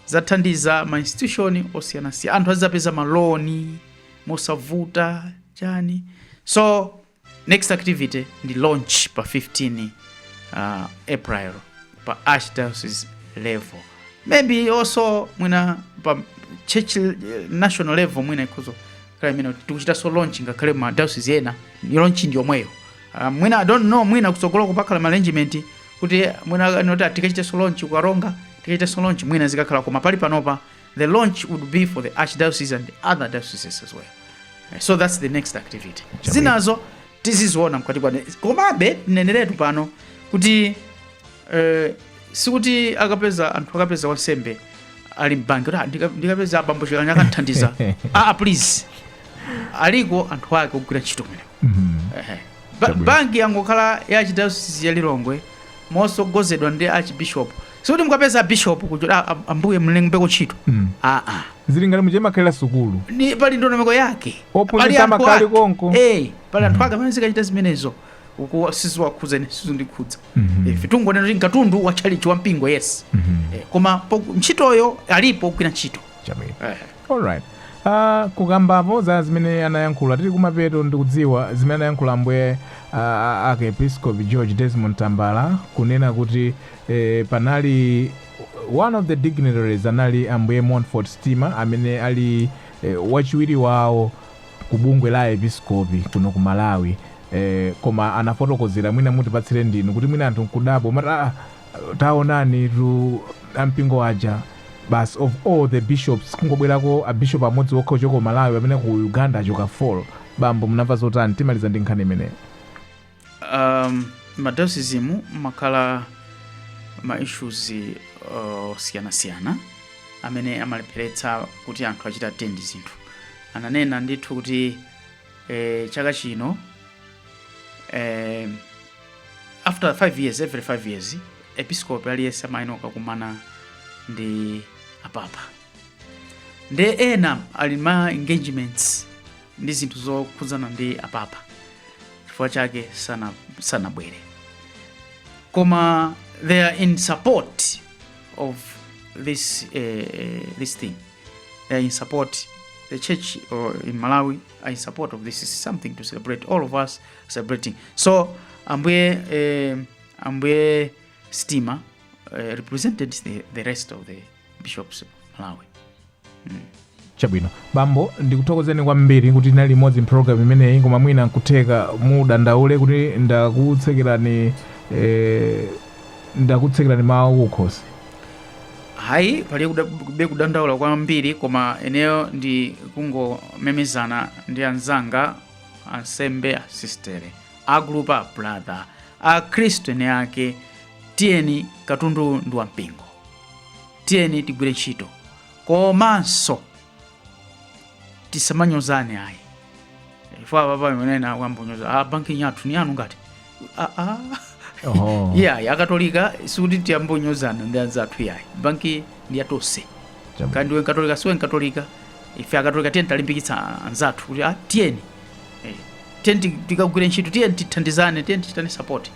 idzathandiza ma institution osiyanasiyana, anthu azidzapeza ma loan mosavuta chani so next activity ndi launch pa 15 uh, april pa archdiocese level maybe also mwina pa church eh, national level mwina ikhoza kukhala imene tikuchitanso launch ngakhale ma diocese ena launch ndi yomweyo uh, mwina i don't know mwina kutsogolo kukakhala ma arrangement kuti mwina nkuti tikachitenso launch ku karonga tikachitenso launch mwina zikakhala koma pali panopa The launch would be for the archdiocese and other dioceses as well. Eh, So that's the next activity. Zinazo tiziziona mkati kwa komabe neneretu pano kuti eh, sikuti akapeza anthu akapeza wansembe ali m'banki kuti "Ah, ndika- ndikapeza abambo chikanya akanthandiza ah, please aliko anthu ake ogwira ntchito kumeneko Ehe. Ba- banki yangokhala ya archdiocese ya lilongwe motsogozedwa ndi archbishop sikuti mukapeza bishop kuti "Ah, ah, ambuye mlembeko ntchito Mm. aa zili ngati muja imakhalira sukulu ni pali ndondomeko yake Ophunzitsa Pali anthu amakali ake. konko. Eh, pali anthu ake amene azikachita zimenezo ukuwa siziwakhudza ine sizindikhudza Mhm. ife tungonena kuti nkatundu wa tchalichi wa mpingo yes Mhm. Eh, koma po- ntchitoyo alipo ogwira ntchito chabwino Eh. Alright. Uh, kukambapo za zimene anayankhula tili kumapeto ndikudziwa zimene anayankhula ambuye uh, arkiepiskopi george desmond tambala kunena kuti eh, panali one of the dignitaries anali ambuye montfort stima amene ali eh, wachiwiri wawo ku bungwe la aepiskopi kuno ku malawi eh, koma anafotokozera mwina mutipatsire ndinu kuti mwina anthu nkudabwa amati ah, taonanitu ampingo aja basi of all the bishops kungobwerako abishop amodzi okha ochokera ku malawi amene ku uganda achoka 4 bambo munamva zotani timaliza ndi nkhani imeneyo um, m'madayosizimu mumakhala ma issues uh, osiyanasiyana amene amalepheretsa kuti anthu achite attend zinthu ananena ndithu kuti eh, chaka chino eh, after 5 years every 5 years episkopi aliyense amayenera kukakumana ndi apapa ndiye ena ali ma engagements ndi zinthu zokhudzana ndi apapa chifukwa chake sana sanabwere koma they are in support of this uh, this thing they are in support the church in malawi are in support of this is something to celebrate all of us celebrating so ambuye eh, ambuye stima eh, represented the, the rest of the bishops of malawi chabwino bambo ndikuthokozeni kwambiri kuti tinali limodzi mpulogalamu imeneyi koma mwina nkutheka mudandaule kuti ndakutsekerani eh, ndakutsekerani mawu kukhosi ayi pali kuda- kulibe kudandaula kwambiri koma ineyo ndi kungomemezana ndi anzanga ansembe asistere a group a brother akhristu eni ake tiyeni katundu ndi wampingo tiyeni tigwire ntchito komanso tisamanyozane ayi chifukwa papa imenena kwayamba kunyoza a banki yathu ni yanu ngati aa Oho. iyayi akatolika sikuti tiyambe kunyozana ndi anzathu iyayi banki ndi ya tonse Chabwino. kaya ndiwe nkatolika siwe nkatolika ife akatolika tiyeni tilimbikitse anzathu kuti ah, tiyeni Eh, tiyeni ti- tikagwire ntchito tiyeni tithandizane tiyeni tichitane support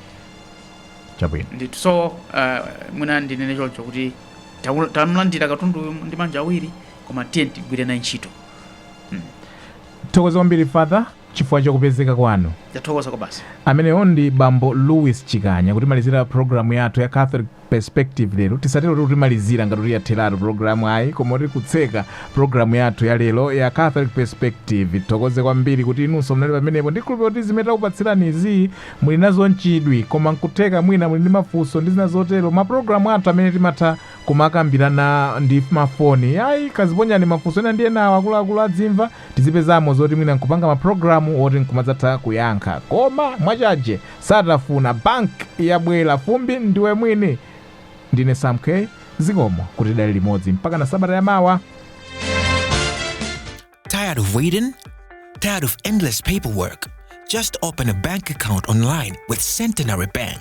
Chabwino. ndithu so uh, mwina ndinene choncho kuti tamu- tamulandira katundu uyu ndi manja awiri koma tiyeni tigwire naye ntchito Tathokoza kwambiri father chifukwa cha kupezeka kwanu. Ndathokoza kwabasi. Ameneyo ndi bambo Louis Chikanya kutimalizira programu yathu ya Catholic Perspective lero. Tisatero kuti kutimalizira ngati kuti yatheratu programu ayi, koma kuti kutseka programu yathu ya lero ya Catholic Perspective. Tithokoze kwambiri kuti inunso munali pamenepo ndikhulupirira kuti zimene takupatsirani izi muli nazo nchidwi, koma nkutheka mwina muli ndi mafunso ndi zina zotero. Maprogramu athu amene timatha kumakambirana ndi mafoni ayi, kaziponyani mafunso ena ndi enawo akuluakulu adzimva tizipezamo zoti mwina nkupanga ma program oti nkumadzatha kuyankha koma mwachaje satafuna bank yabwera fumbi ndiwe mwini ndine Sam K zikomo kuti tinali limodzi mpaka na sabata ya mawa Tired of waiting? Tired of endless paperwork? Just open a bank account online with Centenary Bank.